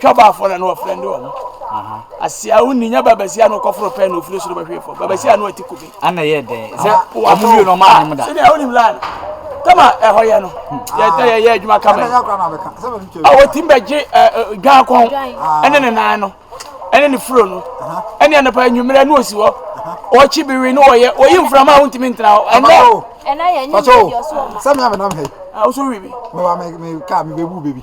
twa baafo na na wɔfrɛ de wɔn asia wo ni nya babasia na ɔkɔforo pɛn na ofiri soro bɛhwee fam babasia na ɔte kube ana yɛ dɛn sɛ ɔmo wie na ɔmo anom da sɛdeɛ wonim laa no kama ɛhɔ yɛ no yɛdɛ yɛyɛ adwuma kama yi a wɔtim bɛgye dwan kɔn ɛne ne nan no ɛne ne furo no ɛne anapa anwummerɛ ne ɔsi hɔ ɔkyi biwi ne ɔyɛ ɔyi mframa a wontumi ntena hɔ ɛnɛ sɛ meamenam hɛ woso wi bi meka mebɛbu bɛbi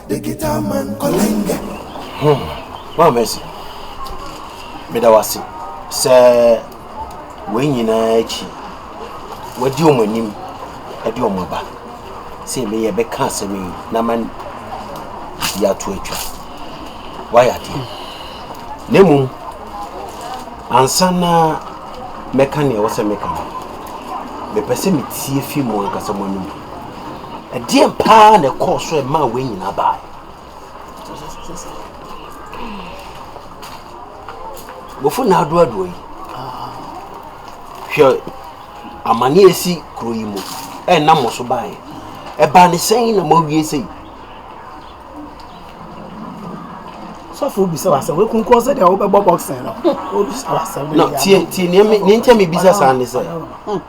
The guitar man Olenga. Hum, Mama Mercy, meda wase sɛ wei nyinaa akyi wadi wɔn anim de wɔn aba sɛ me yɛbɛka asɛm yi na ma di ato atwa wayɛ adeɛ na mmom ansa na mɛka nea ɛwɔ sɛ meka no mepɛ sɛ metie fi mu ankasa mo anom Ɛdeɛn paa na ɛkɔɔ so a ɛmaa wei nyinaa baeɛ? Bɔfo Nana Addo Addo yi, hwɛ amane a ɛsi kuro yi mu a ɛnam mo so baeɛ. Ɛbaa ne sɛn na moawie sei? sɔfo bisa wa sɛ wekunkun sɛ deɛ wobɛbɔ boxing no obisa wa sɛ no tie tie nea nea nkyɛn mi bisa saa ne sɛ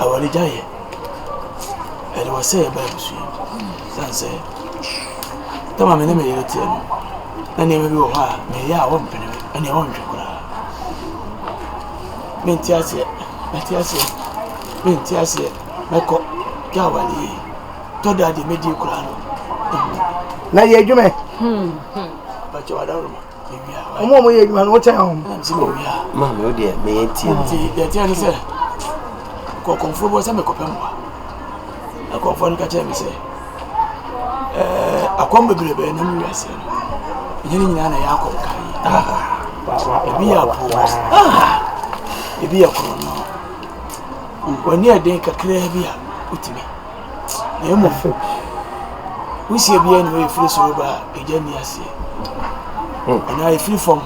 Awurade gya yɛ. Ɛde ɔsɛeɛ ba abusua mu. Ɛsiane sɛ tam a me ne me yere teɛ no, na nneɛma bi wɔ hɔ a meyɛ a ɔmpene me, ɛnneɛ ɔntwe koraa. Mente aseɛ, mate aseɛ, mente aseɛ, mɛkɔ gya awale yie. Tɔ da deɛ mɛdi koraa no, ɛhu. Na yɛ adwuma. Bàtchɛ wà dá roma. wɔn a wɔyɛ adwuma no wokyɛn wɔn. maame wo deɛ meyɛ tie no nti deɛ teɛ ne sɛ kɔkɔmfoɔ bɔ sɛ mekɔpɛ mmoa na kɔmfoɔ no ka kyerɛ me sɛ akɔm bebrebɛɛ nam wiaseɛ no ɛnyɛ ne nyinaa na ɛyɛ akɔm ka yi ebi yɛ apoɔ ebi yɛ korɔno w'ani ɛden kakraa bi a wotumi na mmom wusie biara nni hɔ a ɛfiri soro ba a egya nni aseɛ anaa ɛfiri fam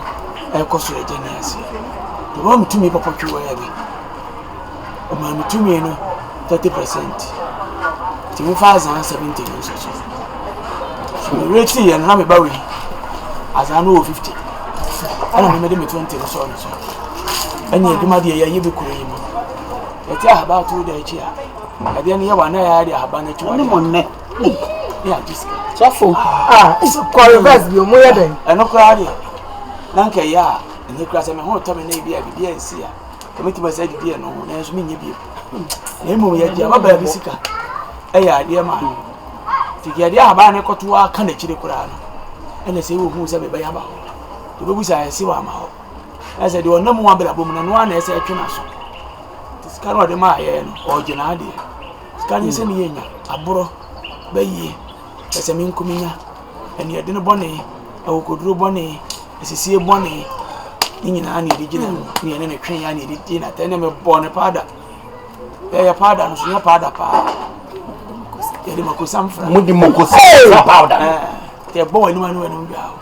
ɛkɔ soro a egya nni aseɛ nti wɔma me tumi pɔpɔtwewaa bi ɔmaa me tumi no 30 percent nti mefa azaa 70 no nso so so mewerɛtii yɛ no na meba wei azaa no wɔ 50 ɛna memede me 20 no sɔɔ no so ɛne adwuma deɛ yɛyɛ bi kuro yi mu yɛte ahabaa too da akyi a Ɛdeɛ no yɛ wa na yɛ de ahaba no akyi wade aka. Yɛ agye sika. Sɔfo. Ah, is kɔ reverse bi omo yɛ dɛ. Ɛno koraa deɛ. Na nka yɛ a, ɛnyɛ kura sɛ me ho tɔ me na ebi a bibi a nsi a. Kame ti masa didi ɛno ho, nanso me nyɛ bi. Na emu yɛ gye ababaa bi sika. Ɛyɛ adeɛ ma. Tiki adeɛ ahaba no kɔto a ka n'akyire koraa no. Ɛna sɛ wo hu sɛ me bɛyɛ aba hɔ. Tobɛbu sɛ ayɛ se wa ama hɔ. Ɛsɛ deɛ ɔnam ho abrabɔ mu na noa na ɛsɛ ɛtwe n'aso. Sika no a ɔde maa yɛn no, ɔregye n'adeɛ. Sika no sɛ ne yɛ nya, aborɔ, bayie, pɛsɛmenkominya, aniɛdene bɔne, akokoduro bɔne, asisie bɔne, ne nyinaa na yɛde gye n'ano, na yɛne ne twe ya na yɛde gye n'atɛ, na mebɔɔ ne paada. Ɛyɛ paada no so, nyɛ paada paa. Yɛde makosam fra. Mode makosam fra paada no. Yɛbɔ w'anim ano w'anim dwa o.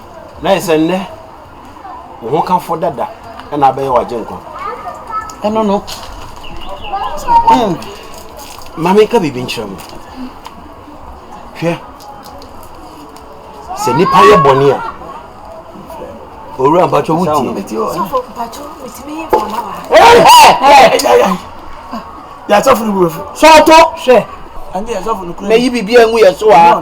Na ayɛ sɛ nnɛ wo hokafo dada na abɛyɛ w'agyenkwa. Ɛno no, mm, ma menka biribi nkyerɛ mo. Hwɛ, sɛ nnipa yɛ bɔne a, owura mpatwɔ wo tie. Yasɔfo no bu efu. Sɔɔto hwɛ. Ɛnyɛ yasɔfo no kura. Mɛyi biribi angu yɛ so a.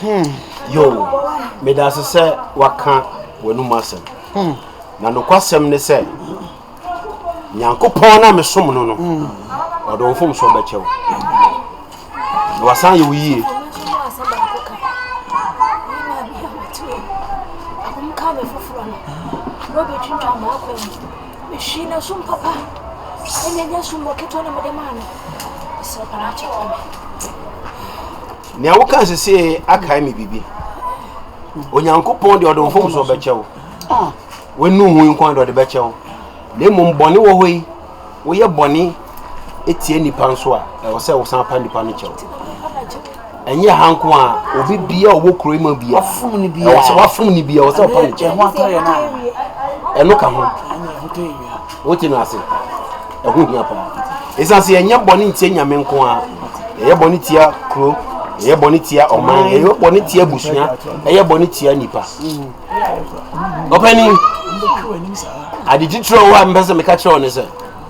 Hmm. Yo, meda ase sɛ waka w'anum asɛm. Hmm. Na nokwasɛm ne sɛ, Nyankopɔn na mesom no no, hmm. ɔde wo mfomsoɔ bɛkyɛ wo. Na wasan yɛ wo yie. Mehwii n'asom papa ne n'asommɔ ketewa na mede maa no. Mesrɛ pa na kyɛ fa me. Nea woka sesie akae me biribi. Onyankopɔn deɛ ɔde mfomsoɔ bɛkyɛ wo. W'anu hu yi nko ara deɛ ɔde bɛkyɛ wo. Na mmom bɔne wɔ hɔ yi, woyɛ bɔne tia nipa nso a ɛwɔ sɛ wosan pa nipa no kyɛw ɛnyɛ ha nko a obi bia ɔwɔ kuro yi mu bia ɛwɔ sɛ wafom ne bia ɛwɔ sɛ ɔpa ne kyɛw ɛno ka ho wote no ase ɛho hia paa ɛsiane sɛ yɛnyɛ bɔne ntia nyame nko a yɛyɛ bɔne tia kuro yɛyɛ bɔne tia ɔman yɛyɛ bɔne tia abusua ɛyɛ bɔne tia nipa ɔpɛni ade titire wɔ hɔ a mepɛ sɛ meka kyerɛ wo ne sɛ